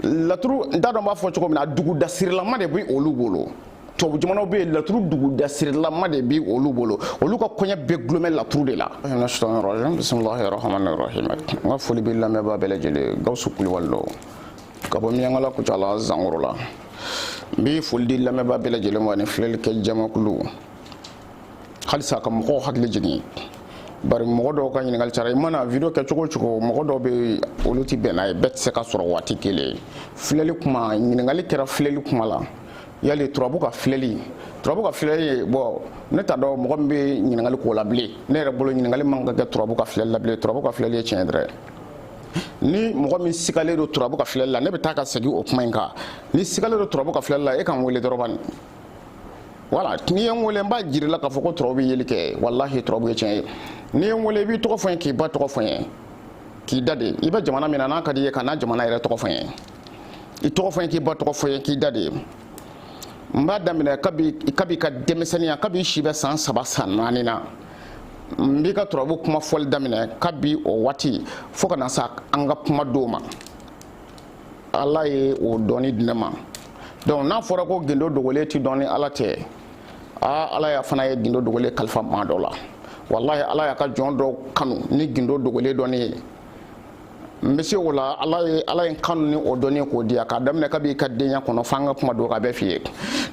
laturu n t'a dɔn b'a fɔ cogo min na dugudasirilama de bɛ olu bolo tubabu jamanaw bɛ yen laturu dugudasirilama de bɛ olu bolo olu ka koɲɛ bɛɛ gulomɛ laturu de la. bisimilahi rahmani rahim n ka foli bɛ lamɛnbaa bɛɛ lajɛlen gawusu kulubali don ka bɔ miɲankala kucala zankoro la n bɛ foli di lamɛnbaa bɛɛ lajɛlen ma ani filɛlikɛ jamakulu. halisa ka mɔgɔw hakili jigin bari mɔgɔ dɔw ka ɲininkali cara i mana video kɛ cogo cogo mɔgɔ dɔw bɛ olu ti bɛn n'a ye bɛɛ tɛ se k'a sɔrɔ waati kelen filɛli kuma ɲininkali kɛra filɛli kuma la yali turabu ka filɛli turabu ka filɛli ye bon ne t'a dɔn mɔgɔ min bɛ ɲininkali k'o la bilen ne yɛrɛ bolo ɲininkali man ka kɛ turabu ka filɛli la bilen turabu ka filɛli ye tiɲɛ dɛrɛ ni mɔgɔ min sigalen don turabu ka filɛli la ne bɛ taa ka segin o kuma in kan n'i sigalen don turabu ka filɛli la e ka n wele dɔrɔn wala n'i ye n wele n b'a jira i la k'a fɔ ko turabu bɛ yeli kɛ walahi turabu ye tiɲɛ ye n'i ye n wele i b'i tɔgɔ fɔ n ye k'i ba tɔgɔ fɔ n ye k'i da de i bɛ jamana min na n'a ka di i ye kana jamana yɛrɛ tɔgɔ fɔ n ye i tɔgɔ fɔ n ye k'i ba tɔgɔ fɔ n ye k'i da de n b'a daminɛ kabi i ka denmisɛnninya kabi i si bɛ san saba san naani na n b'i ka turabu kuma fɔli daminɛ kabi o waati fo ka na se an ka kuma don ma ala ye o dɔnni di ne ma donc n'a fɔra ko gindo dogolen tɛ dɔn ni ala tɛ aa ala yɛrɛ fana ye gindo dogolen kalifa maa dɔ la walahi ala y'a ka jɔn dɔw kanu ni gindo dogolen dɔnni ye n bɛ se o la ala ye ala ye n kanu ni o dɔnni ye k'o di yan k'a daminɛ kabi i ka denya kɔnɔ f'an ka kuma don k'a bɛɛ f'i ye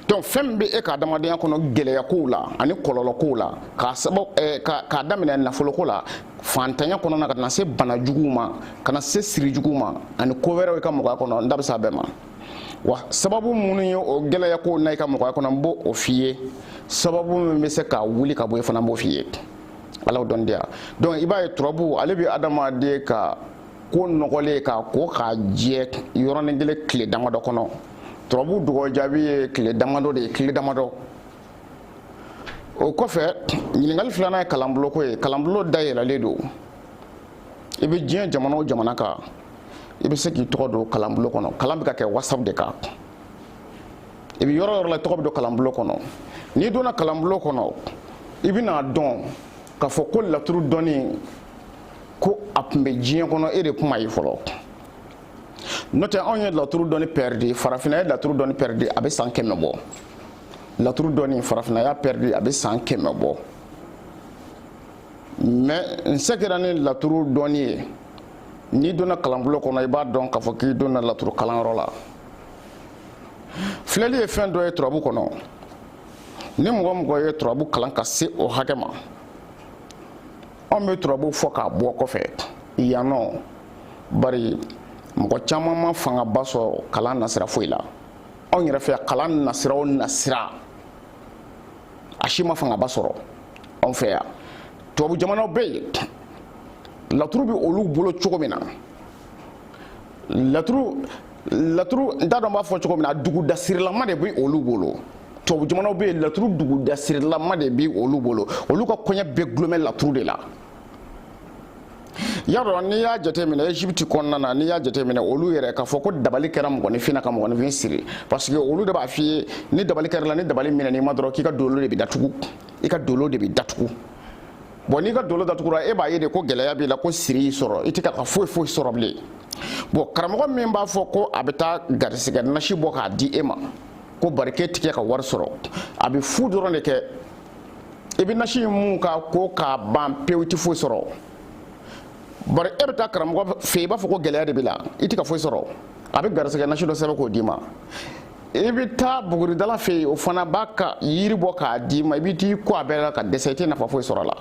donc fɛn min bɛ e ka adamadenya kɔnɔ gɛlɛya kow la ani kɔlɔlɔ kow la k'a sababu eh, k'a daminɛ nafolo ko la fantanya kɔnɔna ka na se bana juguw ma ka na se siri juguw ma ani ko wɛrɛw i ka mɔgɔya kɔnɔ n da bɛ se a bɛɛ ma wa sababu minnu ye o gɛlɛya ko na i ka mɔgɔya kɔnɔ n b'o o f'i ye sababu min bɛ se k'a wuli ka bɔ yen fana n b'o f'i ye ala y'o dɔn di yan donc i b'a ye turabu ale bɛ adamaden ka ko nɔgɔlen ye k'a ko k'a jɛ yɔrɔnin kelen tile damadɔ kɔnɔ turabu dɔgɔ jaabi ye tile damadɔ de ye tile damadɔ o kɔfɛ ɲininkali filanan ye kalanbuloko ye kalanbulo dayɛlɛlen don i bɛ diɲɛ jamana o jamana kan i bɛ se k'i tɔgɔ don kalanbulo kɔnɔ kalan bɛ ka kɛ whatsapp de kan i bɛ yɔrɔ yɔrɔ la i tɔgɔ bɛ don kalanbulo kɔnɔ n'i donna kalanbulo kɔnɔ i bɛn'a dɔn k'a fɔ ko laturu dɔnni ko a tun bɛ diɲɛ kɔnɔ e de tun m'a ye fɔlɔ n'o tɛ anw ye laturu dɔnni pɛridi farafinna ye laturu dɔnni pɛridi a bɛ san kɛmɛ bɔ laturu dɔnni farafinna y'a pɛridi a bɛ san kɛmɛ bɔ mais n sɛgira ni laturu dɔnni ye n'i donna kalanbulon kɔnɔ i b'a dɔn k'a fɔ k'i donna laturu kalanyɔrɔ la filɛli ye fɛn dɔ ye turabu kɔnɔ ni mɔgɔ o mɔgɔ ye turabu kalan ka se o hakɛ ma anw bɛ turabu fɔ k'a bɔ kɔfɛ yan nɔ bari mɔgɔ caman ma fangaba sɔrɔ kalan nasira foyi la anw yɛrɛ fɛ kalan nasira o nasira a si ma fangaba sɔrɔ anw fɛ yan tubabu jamanaw bɛ yen laturu bɛ olu bolo cogo min na laturu laturu n t'a dɔn n b'a fɔ cogo min na dugudasirilama de bɛ olu bolo tubabu jamanaw bɛ yen laturu dugudasirilama de bɛ olu bolo olu ka koɲɛ bɛɛ dulonnen laturu de la y'a dɔn n'i y'a jateminɛ egypte kɔnɔna na n'i y'a jateminɛ olu yɛrɛ k'a fɔ ko dabali kɛra mɔgɔninfin na ka mɔgɔninfin siri parce que olu de b'a f'i ye ni dabali kɛr'i la ni dabali minɛn'i ma dɔrɔn k'i ka dolo de bɛ datugu i ka dolo de bɛ datugu bon n'i ka dolo datugura e b'a ye de ko gɛlɛya b'i la ko siri y'i sɔrɔ i tɛ ka ka foyi foyi sɔrɔ bilen bon karamɔgɔ min b'a fɔ ko a bɛ taa garisigɛ nasi bɔ k'a di e ma ko bari k'e tɛ ka wari sɔrɔ a bɛ fu dɔrɔn de kɛ i bɛ nasi in mun ka ko k'a ban pewu i tɛ foyi sɔrɔ bari e bɛ taa karamɔgɔ fɛ i b'a fɔ ko gɛlɛya de b'i la i tɛ ka foyi sɔrɔ a bɛ garisɛgɛ nasi dɔ sɛbɛn k'o d'i ma i bɛ taa buguridala fɛ yen o fana b'a ka yiri bɔ k'a d'i ma i bɛ t'i ko a bɛɛ la ka dɛsɛ i tɛ nafa foyi sɔrɔ a la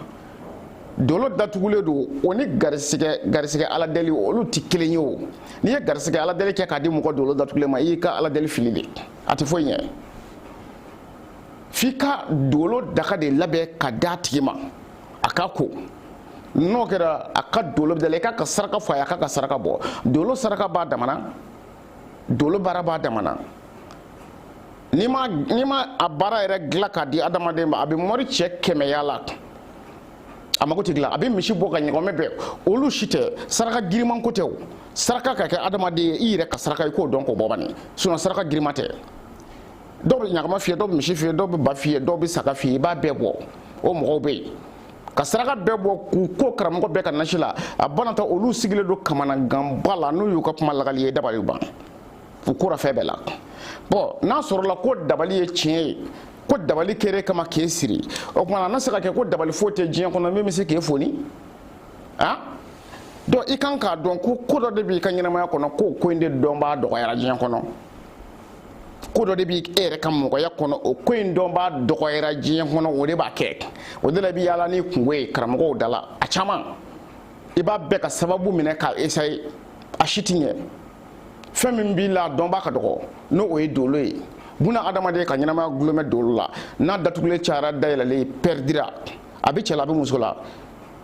dolo datugulen don o ni garisɛgɛ garisɛgɛ ala deli olu tɛ kelen ye o n'i ye garisɛgɛ ala deli kɛ k'a di mɔgɔ dolo datugulen ma i y'i ka ala deli fili de a tɛ foyi ɲɛ f'i ka dolo daga de labɛn ka d'a tigi ma a ka ko n'o kɛra a ka dolo bɛ dayɛlɛ i k'a ka saraka fɔ a ye a k'a ka saraka bɔ dolo saraka b'a damana dolo baara b'a damana n'i ma n'i ma a baara yɛrɛ dilan k'a di adamaden ma a bɛ moricɛ kɛmɛ yaala a mago tɛ dilan a bɛ misi bɔ ka ɲɔgɔmɛ bɛɛ olu si tɛ saraka giriman ko tɛ o saraka ka kɛ adamaden ye i yɛrɛ ka saraka i k'o dɔn k'o bɔ bani sinon saraka giriman tɛ dɔw bɛ ɲɔgɔmɛ f'i ye dɔw bɛ misi f'i ye dɔw bɛ ba f'i ye dɔw bɛ saga f'i ye i b'a bɛɛ bɔ o mɔgɔw bɛ yen ka saraka bɛɛ bɔ k'u ko karamɔgɔ bɛɛ ka nasi la a banata olu sigilen don kamanaganba la n'u y'u ka kuma lakal'i ye dabali ban u kora fɛn bɛɛ la bon n'a sɔrɔla ko dabali ye tiɲɛ ye ko dabali kɛr'e kama k'e siri o tuma na na se ka kɛ ko dabali foyi tɛ diɲɛ kɔnɔ min bɛ se k'e foni donc i kan k'a dɔn ko ko dɔ de b'i ka ɲɛnamaya kɔnɔ k'o ko in de dɔnbaa dɔgɔyara diɲɛ kɔnɔ ko dɔ de b'i yɛrɛ ka mɔgɔya kɔnɔ o ko in dɔnbaa dɔgɔyara diɲɛ kɔnɔ o de b'a kɛ o de la i bɛ yaala n'i kunko ye karamɔgɔw da la a caman i b'a bɛɛ ka sababu minɛ k'a essayer a si ti ɲɛ fɛn min b'i la dɔnbaa ka dɔgɔ n'o ye dolo ye buna adamaden ka ɲɛnamaya gulon bɛ dolo la n'a datugulen cayara dayɛlɛlen ye i pɛridira a bɛ cɛ la a bɛ muso la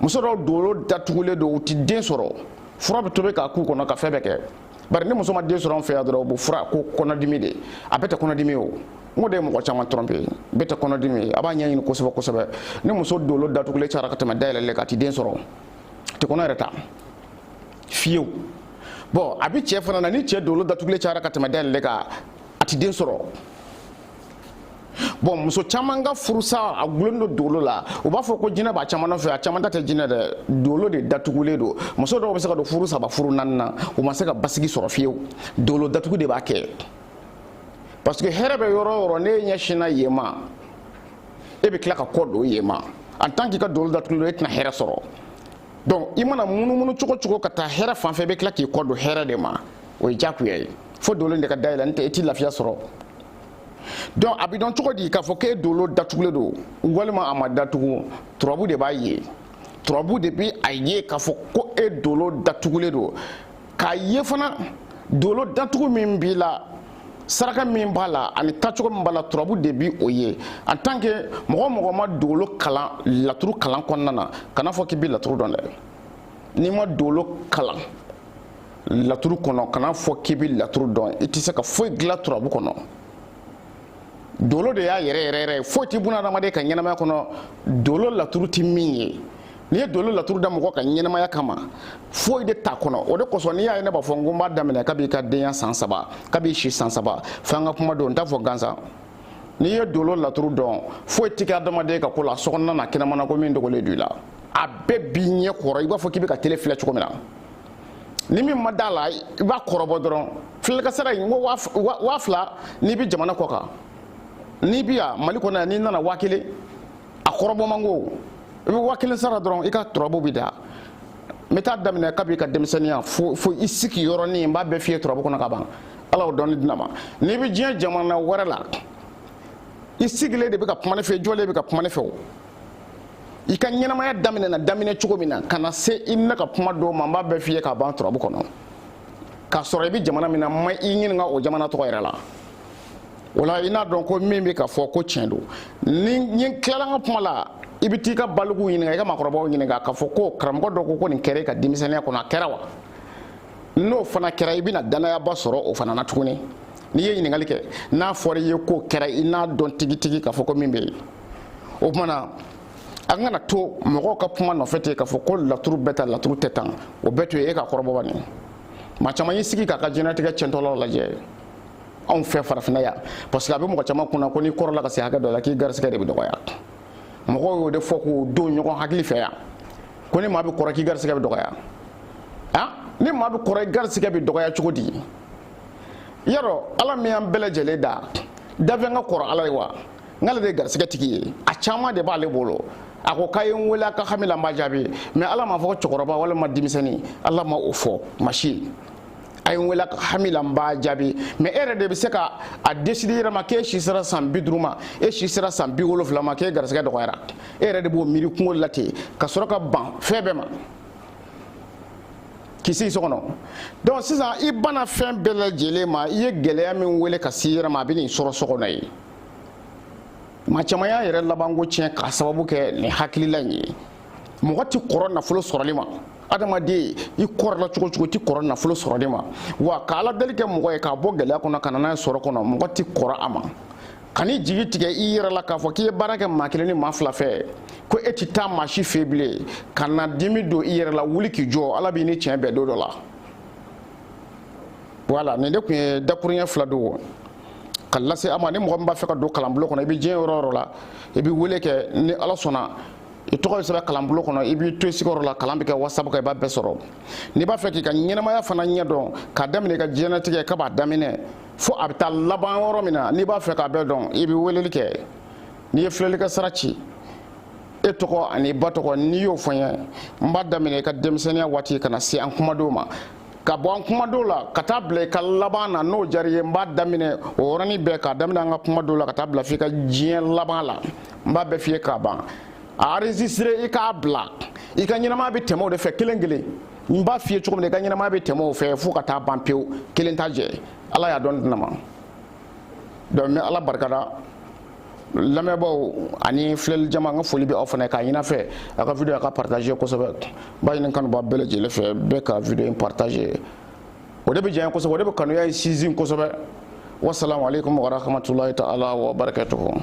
muso dɔw dolo datugulen don u ti den sɔrɔ fura bɛ tobi k'a k'u kɔnɔ ka fɛn bɛɛ kɛ bari ni muso ma den sɔrɔ an fɛ yan dɔrɔn u bɛ fura ko kɔnɔdimi de a bɛɛ tɛ kɔnɔdimi ye o n ko de ye mɔgɔ caman tromper bɛɛ tɛ kɔnɔdimi ye a b'a ɲɛɲini kosɛbɛ kosɛbɛ ni muso dolo datugulen cayara ka tɛmɛ dayɛlɛlen kan a tɛ den sɔrɔ a tɛ kɔnɔ yɛrɛ ta fiyewu bon a bɛ cɛ fana na ni cɛ dolo datugulen cayara ka tɛmɛ dayɛlɛlen kan a tɛ den sɔrɔ bon muso caman ka furusa a gulonnen don dolo la u b'a fɔ ko jinɛ b'a caman nɔfɛ a caman ta tɛ jinɛ dɛ dolo de datugulen don muso dɔw bɛ se ka don furu saba furu naani na u ma se ka basigi sɔrɔ fiyewu dolo datugu de b'a kɛ parce que hɛrɛ bɛ yɔrɔ o yɔrɔ n'e ɲɛsinna yen ma e bɛ tila ka kɔ don yen ma en tant k'i ka dolo datugulen don e tɛna hɛrɛ sɔrɔ donc i mana munumunu cogo cogo ka taa hɛrɛ fan fɛ i bɛ tila k'i kɔ don hɛrɛ de ma o ye jakuya ye fo dolo de ka dayɛlɛ n'o tɛ i ti lafiya sɔrɔ donc a bɛ dɔn cogo di k'a fɔ k'e dolo datugulen don walima a ma datugu turabu de b'a ye turabu de bɛ a ye k'a fɔ ko e dolo datugulen don k'a ye fana dolo datugu min b'i la saraka min b'a la ani tacogo min b'a la turabu de bi o ye en tant que mɔgɔ o mɔgɔ ma dolo kalan laturu kalan kɔnɔna na kana fɔ k'i bɛ laturu dɔn dɛ n'i ma dolo kalan laturu kɔnɔ kana fɔ k'i bɛ laturu dɔn i tɛ se ka foyi dilan turabu kɔnɔ dolo de y'a yɛrɛ yɛrɛ yɛrɛ foyi tɛ bunadamaden ka ɲɛnamaya kɔnɔ dolo laturu tɛ min ye n'i ye dolo laturu da mɔgɔ ka ɲɛnamaya kama foyi de t'a kɔnɔ o de kosɔn n'i y'a ye ne b'a fɔ n ko n b'a daminɛ kab'i ka denya san saba kab'i si san saba fo an ka kuma don n t'a fɔ gansan n'i ye dolo laturu dɔn foyi tɛ kɛ adamaden ka ko la sokɔnɔna na kɛnɛmana ko min dogolen don i la a bɛɛ b'i ɲɛ kɔrɔ i b'a fɔ k'i bɛ ka tele filɛ cogo min na ni min ma d'a la i b'a kɔrɔbɔ dɔrɔn filɛlikɛsara in ko waa fila n'i bɛ jamana kɔ kan n'i bɛ yan mali kɔnɔ yan n'i nana waa kelen a kɔrɔbɔ man go i bɛ waa kelen sara dɔrɔn i ka turabu bɛ da n bɛ t'a daminɛ kab'i ka denmisɛnninya fo i sigi yɔrɔnin n b'a bɛɛ f'i ye turabu kɔnɔ ka ban ala y'o dɔnni di ne ma n'i bɛ diɲɛ jamana wɛrɛ la i sigilen de bɛ ka kuma ne fɛ i jɔlen bɛ ka kuma ne fɛ o i ka ɲɛnamaya daminɛna daminɛ cogo min na ka na se i ni ne ka kuma don ma n b'a bɛɛ f'i ye k'a ban turabu kɔnɔ k'a sɔrɔ i bɛ jamana min na n ma i ɲininka o jamana tɔgɔ yɛrɛ la o la i n'a dɔn ko min bɛ ka fɔ ko tiɲɛ don ni ne tilala n ka kuma la i bɛ t'i ka balikuw ɲininka i ka maakɔrɔbaw ɲininka k'a fɔ ko karamɔgɔ dɔ ko ko nin kɛra i ka denmisɛnninya kɔnɔ a kɛra wa n'o fana kɛra i bɛna dannayaba sɔrɔ o fana na tuguni n'i ye ɲininkali kɛ n'a fɔra i ye k'o kɛra i n'a dɔn tigitigi k'a fɔ ko min bɛ yen o tumana an kana to mɔgɔw ka kuma nɔfɛ ten k'a fɔ ko laturu bɛ tan laturu tɛ tan o bɛɛ to yen e k'a kɔrɔbɔ bani maa caman y'i sigi k'a ka diɲɛnatigɛ tiɲɛtɔla lajɛ anw fɛ farafinna yan parce que a bɛ mɔgɔ caman kunna ko n'i kɔrɔla ka se hakɛ dɔ la k'i garisigɛ de bɛ dɔgɔya mɔgɔw y'o de fɔ k'o don ɲɔgɔn hakili fɛ yan ko ni maa bɛ kɔrɔ k'i garisigɛ bɛ dɔgɔya a ni maa bɛ kɔrɔ i garisigɛ bɛ dɔgɔya cogo di yarɔ ala min y'an bɛɛ lajɛlen da dafɛn ka kɔrɔ ala ye wa n'ale de ye garisigɛ tigi ye a caman de b'ale bolo a ko k'a ye n wele a ka hami la n b'a jaabi mais ala m'a fɔ cɛkɔrɔba walima denmisɛnnin ala ma o fɔ maa si a ye n wele a ka hami la n b'a jaabi mais e yɛrɛ de bɛ se ka a décider i yɛrɛ ma k'e si sera san bi duuru ma e si sera san bi wolonfila ma k'e garisigɛ dɔgɔyara e yɛrɛ de b'o miiri i kungolo la ten ka sɔrɔ ka ban fɛn bɛɛ ma k'i sigi so kɔnɔ donc sisan i banna fɛn bɛɛ lajɛlen ma i ye gɛlɛya min wele ka se i yɛrɛ ma a bɛ n'i sɔrɔ so kɔnɔ yen maa caman y'a yɛrɛ labanko tiɲɛ k'a sababu kɛ nin hakilila in ye mɔgɔ tɛ kɔrɔ nafolo sɔrɔli ma adamaden i kɔrɔla cogo o cogo tɛ kɔrɔ nafolo sɔrɔli ma wa ka ala deli kɛ mɔgɔ ye k'a bɔ gɛlɛya kɔnɔ ka na n'a ye sɔrɔ kɔnɔ mɔgɔ tɛ kɔrɔ a ma kan'i jigi tigɛ i yɛrɛ la k'a fɔ k'i ye baara kɛ maa kelen ni maa fila fɛ ko e tɛ taa maa si fɛ bilen ka na dimi don i yɛrɛ la wuli k'i jɔ ala b'i ni tiɲɛ bɛn don dɔ la voilà nin de tun ye dakuruɲɛ fila don ka lase a ma ni mɔgɔ min b'a fɛ ka don kalanbulon kɔnɔ i bɛ diɲɛ yɔrɔ o yɔrɔ la i bɛ wele kɛ ni ala sɔnna i tɔgɔ bɛ sɛbɛn kalanbulon kɔnɔ i b'i to i sigiyɔrɔ la kalan bɛ kɛ WhatsApp kan i b'a bɛɛ sɔrɔ n'i b'a fɛ k'i ka ɲɛnamaya fana ɲɛ dɔn k'a daminɛ i ka diɲɛnatigɛ ka b'a daminɛ fo a bɛ taa laban yɔrɔ min na n'i b'a fɛ k'a bɛɛ dɔn i bɛ weleli kɛ n'i ye filɛlikɛ sara ci e tɔgɔ an'i ba tɔgɔ n'i y'o fɔ n ye n b'a daminɛ i ka denmisɛnninya waati ka na se an kuma don ma ka bɔ an kuma don la ka taa bila i ka laban na n'o diyara i ye n b'a daminɛ o yɔrɔnin bɛɛ k'a daminɛ an ka kuma don la ka taa bila f'i ka diɲɛ laban la n b'a bɛɛ f'i ye k'a ban a enregistrer i k'a bila i ka ɲɛnamaya bɛ tɛmɛ o de fɛ kelen kelen n b'a f'i ye cogo min na i ka ɲɛnamaya bɛ tɛmɛ o fɛ fo ka taa ban pewu kelen t'a jɛ ala y'a dɔn di ne ma donc n bɛ ala barikada lamɛnbaaw ani filɛli jama n ka foli bɛ aw fana ye k'a ɲin'a fɛ a ka video a ka partager kosɛbɛ n b'a ɲini kanubaa bɛɛ lajɛlen fɛ bɛɛ ka video in partager o de bɛ diya n ye kosɛbɛ o de bɛ kanuya in sinsin kosɛbɛ wasalamu aleykum warahmatulahi taala wa barakatuhu